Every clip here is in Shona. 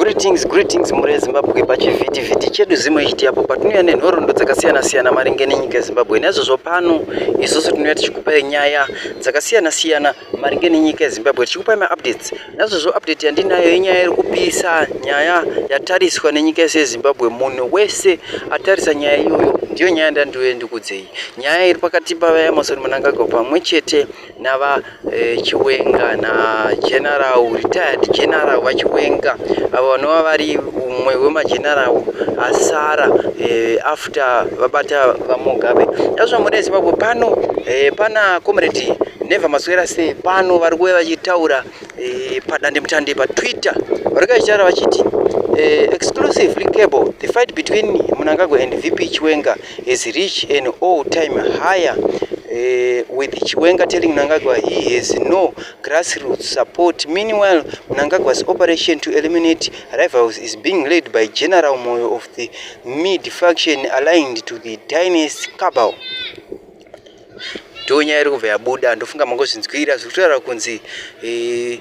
Greetings, greetings mhuri yeZimbabwe pachivhiti vhiti chedu zimwe ichiti apo patinouya nenhoroondo dzakasiyana siyana maringe nenyika yeZimbabwe naizvozvo pano isusu tinouya tichikupai nyaya dzakasiyana siyana maringe nenyika yeZimbabwe tichikupai maupdates naizvozvo update yandinayo yenyaya iri kupisa nyaya yatariswa nenyika yese yeZimbabwe munhu wese atarisa nyaya iyoyo ndiyo nyaya ndandiuye ndikudzei nyaya iri pakati pavaEmmerson Mnangagwa pamwe chete nava eh, chiwenga nageneral retired general vachiwenga avo vanova vari umwe wemageneral asara eh, after vabata vamugabe azvamune zimbabwe pano eh, pana comrade neva maswera sei pano vari kuve vachitaura eh, padandemutande patwitter vari kachitaura vachiti eh, exclusively cable the fight between munangagwa and vp chiwenga has reached an all time higher uh, with Chiwenga telling Mnangagwa he has no grassroots support. Meanwhile, Mnangagwa's operation to eliminate rivals is being led by General Moyo of the mid faction aligned to the dynasty cabal. Ndonya iri kubva yabuda ndofunga mangozvinzwira zviri kutaura kunzi eh,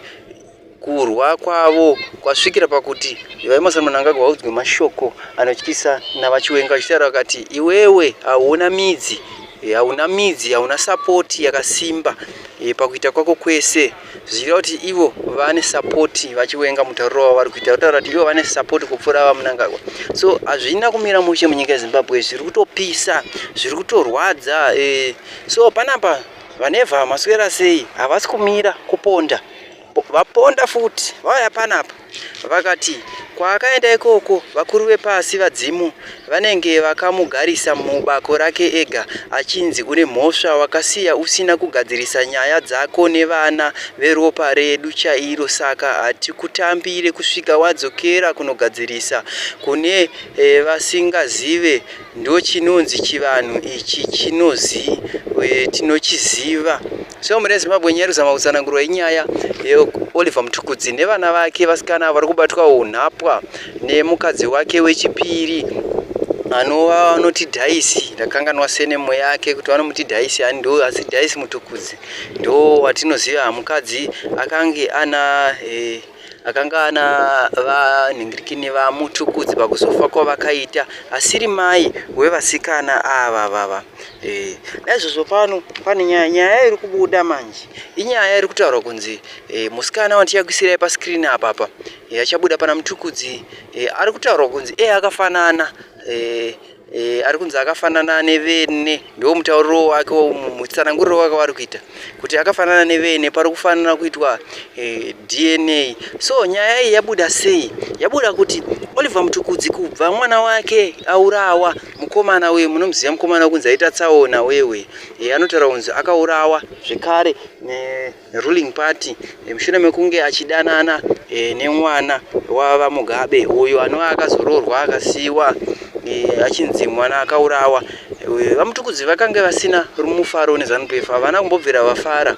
Kurwa kwavo kwasvikira pakuti VaEmmerson Mnangagwa vaudzwe mashoko anotyisa naVaChiwenga vachitaura vakati iwewe hauna midzi eh, hauna midzi hauna sapoti yakasimba eh, pakuita kwako kwese zvichira kuti ivo vane sapoti vachiwenga mutauriro wavo vari kuita kutaura kuti ivo vane sapoti kupfuura vamunangagwa so hazvina kumira mushe munyika yezimbabwe zviri kutopisa zviri kutorwadza eh, so panapa vanevha maswera sei havasi kumira kuponda vaponda futi vauya panapa vakati kwaakaenda ikoko vakuru vepasi vadzimu vanenge vakamugarisa mubako rake ega achinzi une mhosva wakasiya usina kugadzirisa nyaya dzako nevana veropa redu chairo saka hatikutambire kusvika wadzokera kunogadzirisa kune e, vasingazive ndochinonzi chivanhu ichi chinozi eh, tinochiziva so mune zimbabwe nyaya kuzama kutsanangurwa inyaya yeoliver mutukudzi nevana vake vasikana vari kubatwa unhapwa nemukadzi wake wechipiri anova vanoti dhaisi ndakanganwa senemo yake kuti vanomuti dhaisi ani ndo asi dhaisi mutukudzi ndo watinoziva mukadzi akange ana e, akanga ana vanhingirikini vamutukudzi pakuzofa kwavakaita asiri mai wevasikana ava vava e, naizvozvo pano pane nyaya nyaya iri kubuda manje inyaya iri kutaurwa kunzi e, musikana wandichakuisirai paskrini apapa e, achabuda pana mutukudzi e, ari kutaurwa kunzi e akafanana e, E, ari kunzi akafanana nevene ndiwo mutauriro wake mutsananguriro wake waari kuita kuti akafanana nevene pari kufanira kuitwa e, eh, dna so nyaya iyi yabuda sei yabuda kuti oliver mutukudzi kubva mwana wake aurawa mukomana uye munomuziva mukomana wekunzi aita tsaona wewe e, eh, anotaura kunzi akaurawa zvekare ruling party mushure mekunge achidanana e, nemwana wavamugabe uyo anova akazoroorwa akasiiwa e, achinzi mwana akaurawa e, vamutukudzi vakange vasina mufaro nezanup f havana kumbobvira vafara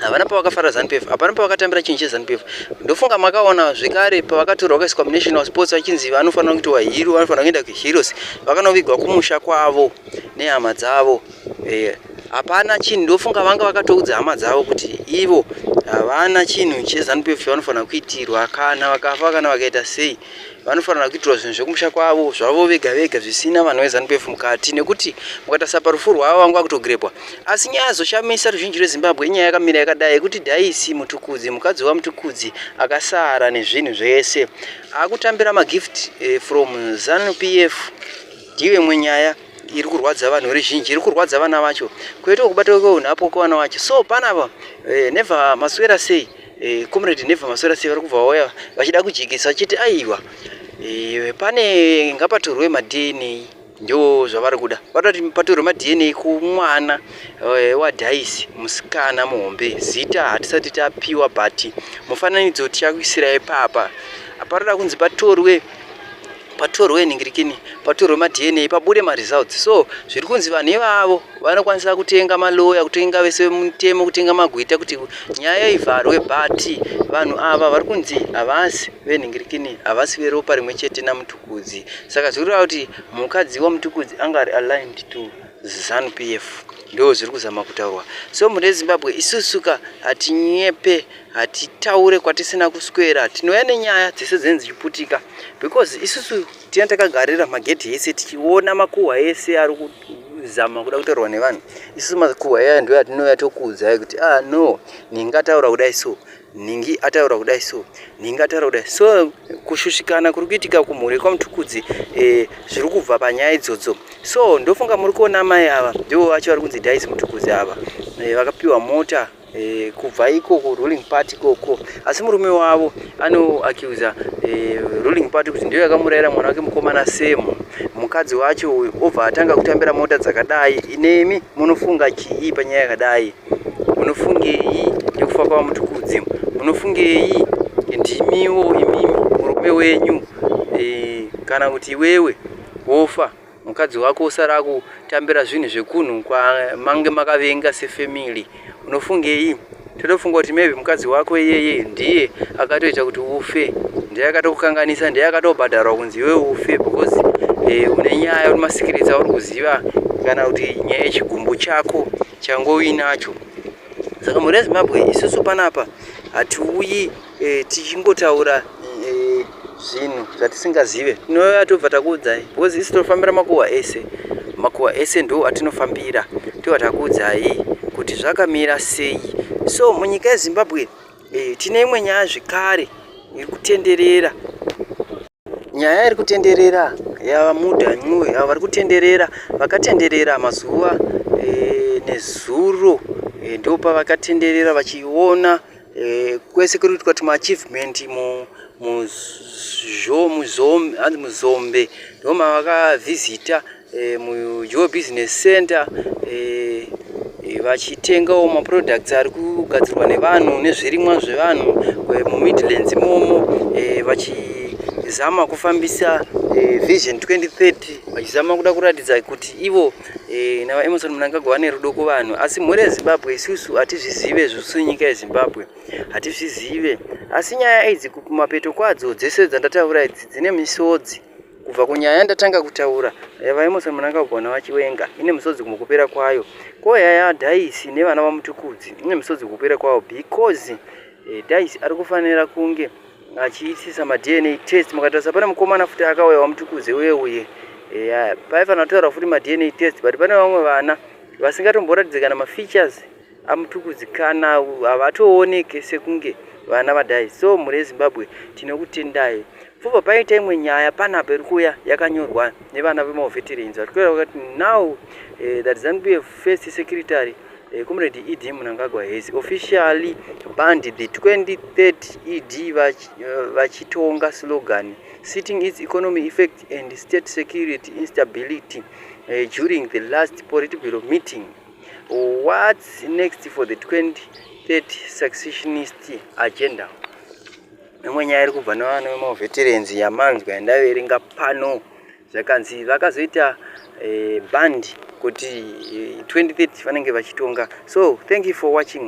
havana pavakafara zanupf hapana pavakatambira chinhu chezanupf ndofunga makaona zvekare pavakatorwa kaiswa munational sports vachinzi vanofanira kuitiwa hero vanofanira kuenda kuheroes vakanovigwa kumusha kwavo nehama dzavo eh, hapana chinhu ndofunga vanga vakatoudza hama dzavo kuti ivo havana chinhu chezanup f vanofanira kuitirwa kana vakafa kana vakaita sei vanofanira kuitirwa zvinhu zvekumusha kwavo zvavo vega vega zvisina vanhu vezanup f mukati nekuti mukatarisa parufu rwavo vanga vakutogirepwa asi nyaya yazoshamisa ruzhinji rwezimbabwe inyaya yakamira yakadai yekuti daisi mutukudzi mukadzi wamutukudzi akasara nezvinhu zvese akutambira magift eh, from zanup f ndive mwenyaya iri kurwadza vanhu iri zhinji iri kurwadza vana vacho kwete kubatwa kweunhapwa kwevana vacho so panapa eh, never maswera sei eh, comrade never maswera sei vari kubva vauya vachida kujekesa vachiti aiwa eh, pane ngapatorwe madna ndo zvavari kuda vatoti patorwe madna kumwana eh, wadhaisi musikana muhombe zita hatisati tapiwa but mufananidzo tichakuisira ipapa aparoda kunzi patorwe patorwe nhingirikini patorwe madna pabude maresults so zviri kunzi vanhu ivavo vanokwanisa kutenga maloya kutenga vese mutemo kutenga magwita kuti nyaya ivharwe but vanhu ava vari kunzi havasi venhingirikini havasi veropa rimwe chete namutukudzi saka zviri kureva kuti mukadzi wamutukudzi anga ari aligned to zanu p f ndo zviri kuzama kutaurwa so mune zimbabwe isusuka hatinyepe hatitaure kwatisina kuswera tinouya nenyaya dzese dzinenge dzichiputika because isusu tina takagarira magedhi ese tichiona makuhwa ese ari kuzama kuda kutorwa nevanhu isusu makuhwa aya ndo yatinouya tokuudzai kuti ah no ningi ataura kudai so ningi ataura kudai so ningi ataura kudai so kushushikana kuri kuitika kumhuri kwamutukudzi eh, zviri kubva panyaya idzodzo so ndofunga muri kuona mai ava ndivo vacho vari kunzi dais mutukudzi ava eh, vakapiwa mota e, kubva iko ku ruling party koko asi murume wavo anoacuza e, eh, ruling party kuti ndiyo yakamurayira mwana wake mukomana semu mukadzi wacho uyu obva atanga kutambira mota dzakadai inemi munofunga chii panyaya yakadai munofungei nekufa kwavamutukudzi munofungei ndimiwo imimi murume wenyu e, kana kuti iwewe wofa mukadzi wako usara kutambira zvinhu zvekunhu kwamange makavenga sefamily unofungei totofunga kuti maybe mukadzi wako iyeye ndiye akatoita kuti ufe ndiye akatokukanganisa ndiye akatobhadharwa kunzi iwe ufe because eh, une nyaya uri masikiritsi auri kuziva kana kuti nyaya yechigumbu chako changoinacho saka mhuri yezimbabwe isusu panapa hatiuyi eh, tichingotaura eh, zvinhu zvatisingazive tinouya tobva takuudzai because isi tinofambira makuhwa ese makuhwa ese ndo atinofambira tobva takuudzai kuti zvakamira sei so munyika yezimbabwe eh, tine imwe nyaya zvekare iri kutenderera nyaya iri kutenderera yavamuda nyue avo vari kutenderera vakatenderera mazuva e, nezuro e, eh, ndopavakatenderera vachiona Eh, kwese kuri kuitwa tuma achievement mu muzhomuzhombe hanzi muzombe ndoma vakavhizita eh, mujoe business center eh, eh, vachitengawo maproducts ari kugadzirwa nevanhu nezvirimwa zvevanhu eh, mumidlands imomo eh, vachizama kufambisa eh, vision 2030 vachizama kuda kuratidza kuti ivo Eh, na vaemerson munangagwa vane rudo kuvanhu asi mhuri yezimbabwe isusu hatizvizive zvisu nyika yezimbabwe hatizvizive asi nyaya idzi kumapeto kwadzo dzese dzandataura idzi dzine misodzi kubva kunyaya yandatanga kutaura yavaemerson munangagwa navachiwenga ine misodzi kumukupera kwayo ko yaya daisi nevana vamutukudzi ine misodzi kukupera kwayo because eh, daisi ari kufanira kunge achiitisa madna test mukatarisa pane mukomana futi akauya wamutukuze uye uye eya paifanira kutaura futi madna test but pane vamwe vana vasingatomboratidze kana mafeatures amutukudzi kana havatooneke sekunge vana vadai so mhuri yezimbabwe tinokutendai pfuva paita imwe nyaya panapa iri kuuya yakanyorwa nevana vemaoveterans vatikuera vakati now uh, that zanup first secretary Eh, comrade ed munangagwa has officially banned the 2030 ed eh, vachitonga slogan sitting its economy effect and state security instability eh, during the last political meeting what's next for the 2030 successionist agenda imwe nyaya iri kubva nevana vemavheterenzi yamanzwa yandaverenga pano zvakanzi vakazoita eh, band kuti eh, 2030 vanenge vachitonga so thank you for watching